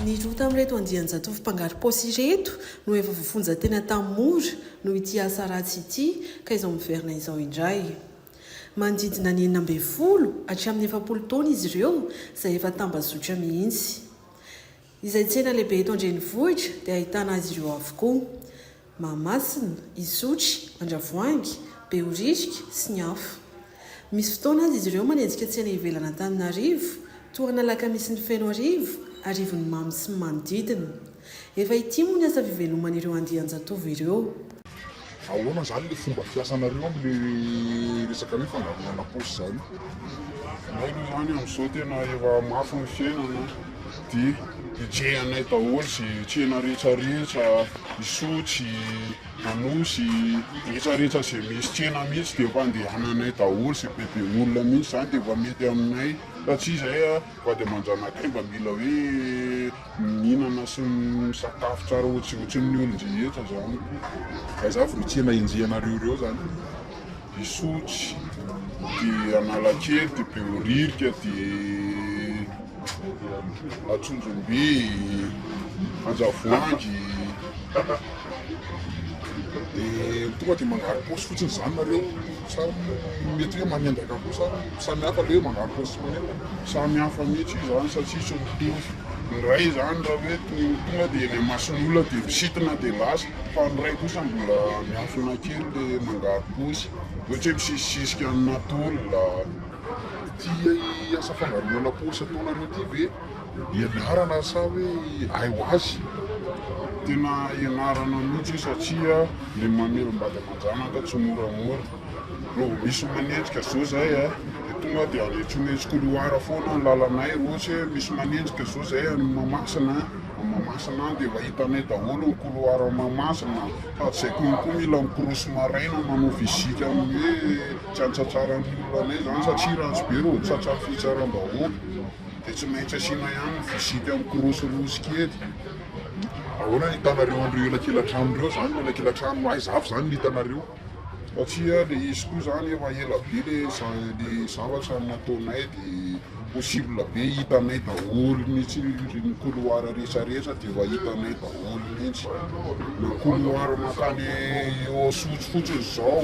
Ny roa tamin'ireto andian-jatovo mpangarom-paosy ireto no efa voafonja tena tamin'ny mora noho ity asa ratsy ity ka izao miverina izao indray. Manodidina ny enina ambin'ny folo hatramin'ny efapolo taona izy ireo izay efa tambazotra mihitsy. Izay tsena lehibe eto an-drenivohitra dia ahitana azy ireo avokoa. Mahamasina, Isotry, Andravoahangy, Behoririka, sy ny hafa. Misy fotoana aza izy ireo manenjika tsena ivelan'Antananarivo, toa an'alakamisy ny Fenoarivo, Arivonimamo sy ny manodidina. Efa ity moa ny asa fiveloman'ireo andian-jatovo ireo. Ahoana zany le fomba fiasanareo am le resaka hoe fandaminana paosy zany? Ianareo zany amzao tena efa mafy ny fiainana de hejehanay daholo ze tsena rehetra rehetra, isotry, anosy, rehetra rehetra ze misy tsena mihitsy de efa andehananay daholo ze be be olona mihitsy zany de efa mety aminay fa tsy zay a! Vady aman-janakay mba mila hoe mihinana sy misakafo tsara ohatriohatrin'ny olon-drehetra zany koa. Aiza avy no tsena enjehinareo ireo zany? Isotry, dia Analakely, dia Behoririka, dia Antsonjombe, Andravoahangy. Dia tonga dia manjary paosy fotsiny izany nareo sa mety hoe manendaka koa sa samy hafa ilay hoe manjary paosy sy manendaka? Samy hafa mihitsy io izany satria tsy mitovy, ny iray izany raha hoe tonga dia eny imason'ny olona dia misintona dia lasa fa ny iray kosa mbola miafina kely ilay manjary paosy ohatra hoe misisisisika aminà tôle. Ity asa fangaroana paosy ataonareo ity ve? Ianarana sa hoe hay ho azy? Tena ianarana mihitsy io satria le mamelom-bady aman-janaka tsy moramora. Raha vao misy manenjika zao zay a, de tonga de anetsonetsy couloir foana ny lalanay, raha ohatra hoe misy manenjika zao zay any Mahamasina a, Mahamasina any de efa hitanay daholo ny couloir Mahamasina, sady zay koa koa mila mikorosy maraina manao visite amin'ny hoe tsy antsatsaran'ny olona anay zany satria ratsy be raha vao tsy tratran'ny fitsaram-bahoaka. dia tsy maintsy asiana ihany visite mikorosorosy kely. Ahoana ny hitanareo an'ireo elakela-trano ireo izany? Ny elakela-trano aiza avy izany no hitanareo? Satria ilay izy koa izany efa ela be ilay zavatra nataonay dia possible be hitanay daholo mihitsy io, ny couloir rehetrarehetra dia efa hitanay daholo mihitsy. Na couloir mankany eo Antsotso fotsiny izao.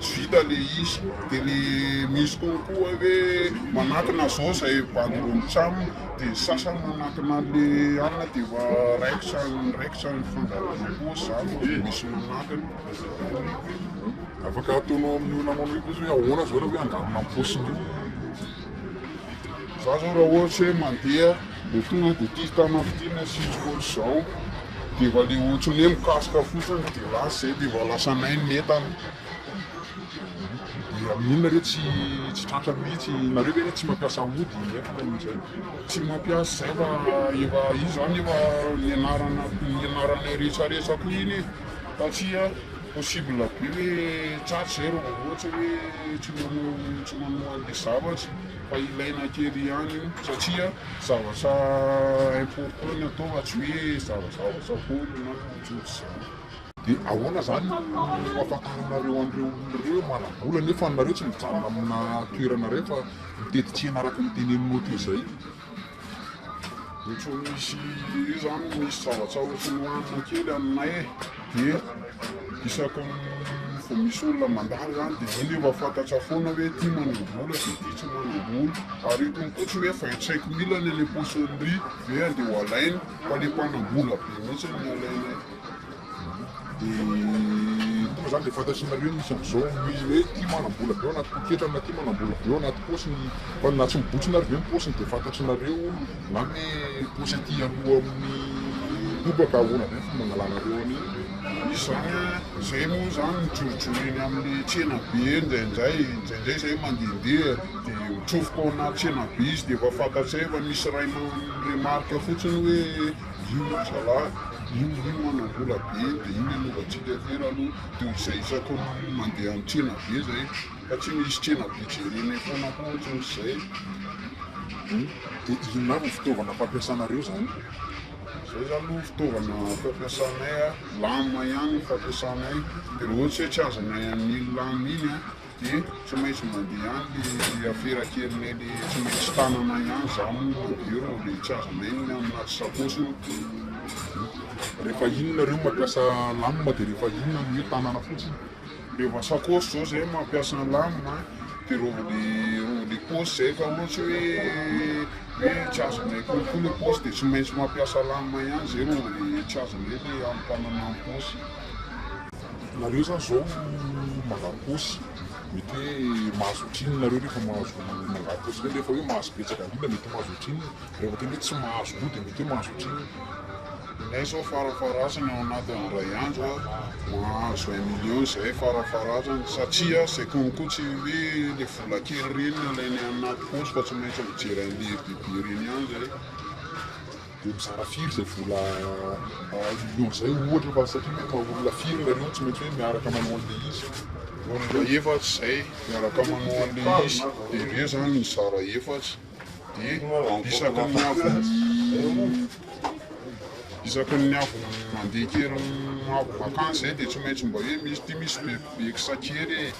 tsy vita le izy de ny misy kokoa hoe manatona zao zay bandy roa mitsam de ny sasany manatona le anona de efa raikitra raikitra ny fandaharana koa zany fa tsy misy manatona afaka ataonao amin'ny olona manao hoe ahoana zao raha hoe angalana ny paosiny eo. Za zao raha ohatra hoe mandeha de tonga de ty tanana ty ny asiko ohatra zao de efa le ohatry ny hoe mikasoka fotsiny de lasa zay de efa lasa may ny entana de amin'iny nareo tsy tsy tratra mihitsy, nareo ve le tsy mampiasa ody nefa amizay tsy mampiasa zay fa efa io zany efa nianarana nianaranay rehetra rehetra koa iny e satria. Possible be hoe tsara izay raha vao ohatra hoe tsy manao tsy manao an'ilay zavatra fa ilaina kely ihany io satria zavatra important ny atao fa tsy hoe zavazavaza foana na ohatrohatr'izany. Dia ahoana izany no hampahafantaranareo an'ireo olona ireo hoe manam-bola nefa nareo tsy mijanona amina toerana iray fa mitety tsena araka ny teneninao teo izay? Ohatry ny misy io zany misy savatsavotry ny lanina kely aminay e, de isaka vao misy olona mandalo zany de iny efa fantatra foana hoe ty manam-bola de ty tsy manam-bola, ary io koa tsy hoe vingt cinq mille any le poissonerie ve andeha ho alainy fa le mpanam-bola be mihitsy no alainay. Dia tonga izany dia fantatrinareo ny misy amin'izao ny hoe ity manam-bola be ao anaty poketrany na ity manam-bola be ao anaty paosiny. Fa na tsy mibontsina ve ny paosiny dia fantatrinareo na ny paosy aty aloha amin'ny hoho ka ahoana ve ny fomba angalanareo an'iny. Izany izay moa izany mijorojoro eny amin'ny tsena be indraindray, indraindray izay mandehandeha dia mitsofoka ao anaty tsena be izy dia efa fantatsay fa misy iray mi-remarque fotsiny hoe. io ry zalahy, io io hono mbola be dia io nanaovantsika kely aloha dia ho izay isaky ny mandeha an-tsena be izay fa tsy misy tsena be jerena etsana koa ohatran'izay. Dia inona avy ny fitaovana fampiasanareo izany? Izay izany aloha ny fitaovana fampiasanay, lame ihany no fampiasanay, dia raha ohatra hoe tsy azonay amin'iny lame iny an. dia tsy maintsy mandeha any ny afera kelin'eny tsy maintsy tanana ihany za moa eo no le tsy azo nenina anaty sakosiny rehefa iny nareo mampiasa lamina dia rehefa iny no hoe tanana fotsiny rehefa sakosy zao zay mampiasa lamina dia rova le rova le posy zay fa ohatsy hoe hoe tsy azo nenina kokoa le posy dia tsy maintsy mampiasa lamina ihany zay rova le tsy azo nenina amin'ny tanana ny posy Nareo zany zao mangary paosy mety hoe mahazo ohatrinona nareo rehefa mahazo mangary paosy zany rehefa hoe mahazo betsaka indrindra mety mahazo ohatrinona raha vao tena hoe tsy mahazo koa dia mety hoe mahazo ohatrinona. Izahay zao farafaharasany ao anatin'ny iray andro mahazo un million izahay farafaharasany satria izay konko tsy hoe ilay vola kely ireny no alainay anaty paosy fa tsy maintsy mijery an'ilay lehibehibe ireny ihany izahay. Dia mizara firy izay vola hahazoanao izay ohatra fa satria hoe maha olona firy ilay anao tsy maintsy hoe miaraka manao an'ilay izy. Olona efatra izay miaraka manao an'ilay izy dia ireo izany mizara efatra dia isaky ny avy isaky ny avy mandeha kely avy vacance izay dia tsy maintsy mba hoe misy ity misy be be kisa kely e.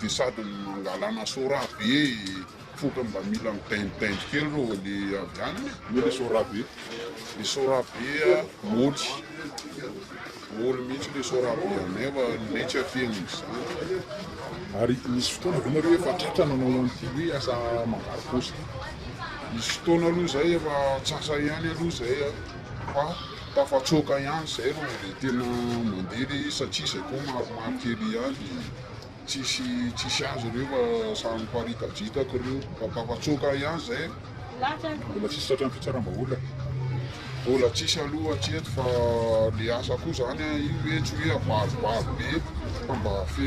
dia sady mangalana sorabe ohatra mba mila midaindaindy kely ireo le avy any e. Io le sorabe, le sorabe moly, moly mihitsy le sorabe anay fa anay tsy afehin'ny izany. Ary nisy fotoana ve nareo efa tratra nanao an'ity hoe asa mangaly paosy ity? Nisy fotoana aloha izay efa antsasa ihany aloha izay an, fa tafatsoaka ihany izay rô dia tena mandeha le izy satria izay koa maromaro kely ihany. tsisy tsisy azy ireo fa samy miparitadritaka ireo fa tapa-tsoaka ahy ihany izay mbola tsisy tratran'ny fitsaram-bahoaka mbola tsisy aloha hatreto fa le asa koa zany a io hoe tsy hoe abaribary be fa mba fe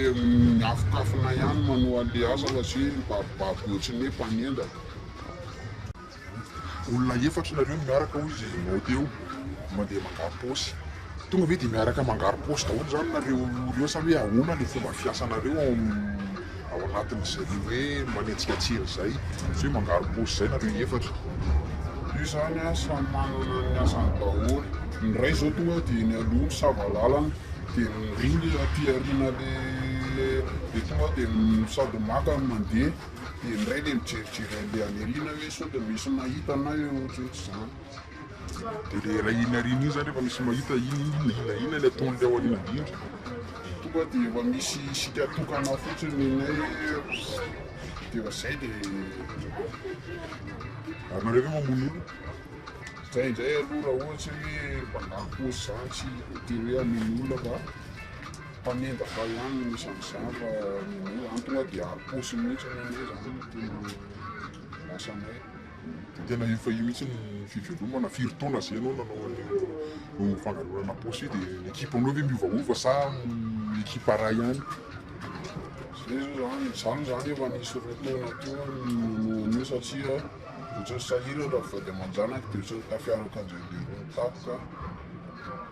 miafokafona ihany manoa an'le asa fa tsy hoe mibaribary be ohatry ny hoe mpanendaka Olona efatra nareo no miaraka hoy izy nao teo mandeha mangaro paosy. Tonga ve dia miaraka mangaro paosy daholo izany nareo roa sa hoe ahoana ilay fomba fiasanareo ao ao anatin'izay hoe manenjika tsena izay? Sa hoe mangaro paosy izay nareo efatra? Io izany an, samy manana ny asany daholo. Ny iray izao tonga dia nialoha misava lalana, dia niringa aty aoriana ilay ilay dia tonga dia sady maka no mandeha. Dia indray ilay mijerijery andeha any aoriana hoe sao dia misy mahita anay eo ohatr'izay tsy izany. Dia ilay iray iny aoriana iny izany rehefa misy mahita iny inona inona inona ilay ataon'ilay ao aoriana indrindra. Tonga dia efa misy isika tokana fotsiny ny anay dia efa izay dia. Ary nareo ve mamono olona? Izay indray aloha raha ohatra hoe mpangarom-paosy izany tsy voatery hoe hamono olona fa. Mpanendaka ihany no isan'ny zandry amin'io any, tonga dia aposo mihitsy hono ange izany no tena lasanay. Tena efa io mihitsy no fivelomana, firy taona izay ianao nanao an'io fangalarana aposo io dia ny ekipanao ve miovaova sa ekipa iray ihany? Izay izao izany, izaho moa izany efa nisy roa taona teo aho no nanao an'io satria ohatran'ny sahirana raha vady aman-janaka dia ohatran'ny tafiaran'Andriambeorina tampoka aho.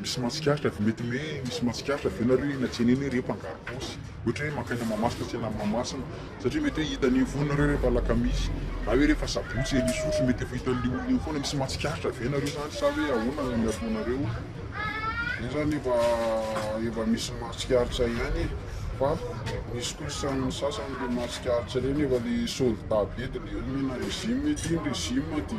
Misy mahatsikaritra ve, mety hoe misy mahatsikaritra ve nareo eny an-tsena eny hoe reo mpangaro paosy? Ohatra hoe mankany Mahamasina tsena any Mahamasina satria mety hoe hitany eny foana nareo rehefa alakamisy na hoe rehefa sabotsy eny Isotry mety efa hitan'le olona eny foana, misy mahatsikaritra ve nareo zany sa hoe ahoana ny ataonareo? Zay zany efa efa misy mahatsikaritra ihany e! fa misy kosa ny sasany le mahatsikaritra reo nefa le soldat be de le hoe mena régime ty ny régime de.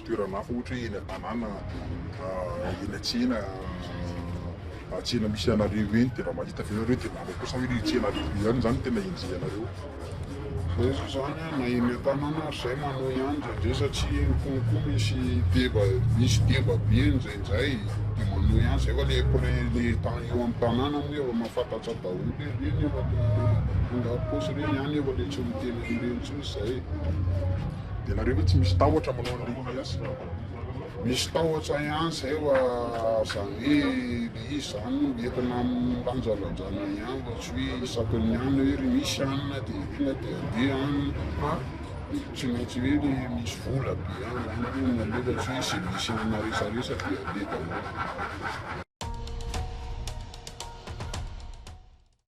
toerana hafa ohatra hoe eny an-tanàna, eny an-tsena, tsena misy anareo eny dia raha mahita avy eo ianareo dia manao kosa hoe ilay tsena alefa be any izany no tena enjehinareo. Fa izaho izany na eny an-tanàna ary izay manao ihany indraindray satria eny foana koa misy deba, misy deba be indraindray dia manao ihany izay fa ilay prin, ilay eo amin'ny tanàna moa efa mahafantatsa daholo hoe ireny efa mpangarom-paosy ireny any efa ilay tsy miteny an'ireny intsony izay e. Dia nareo ve tsy misy tahotra manao an'ilay IAS io? Misy tahotra ihany zay wa zany hoe le izy zany no entina amin'ny lanjalanjana ihany fa tsy hoe isaky ny any hoe ry misy any dia entina dia andeha any fa tsy maintsy hoe le misy vola be any zany aloha no aleha fa tsy hoe izay misy any na resaresa dia aleha daholo.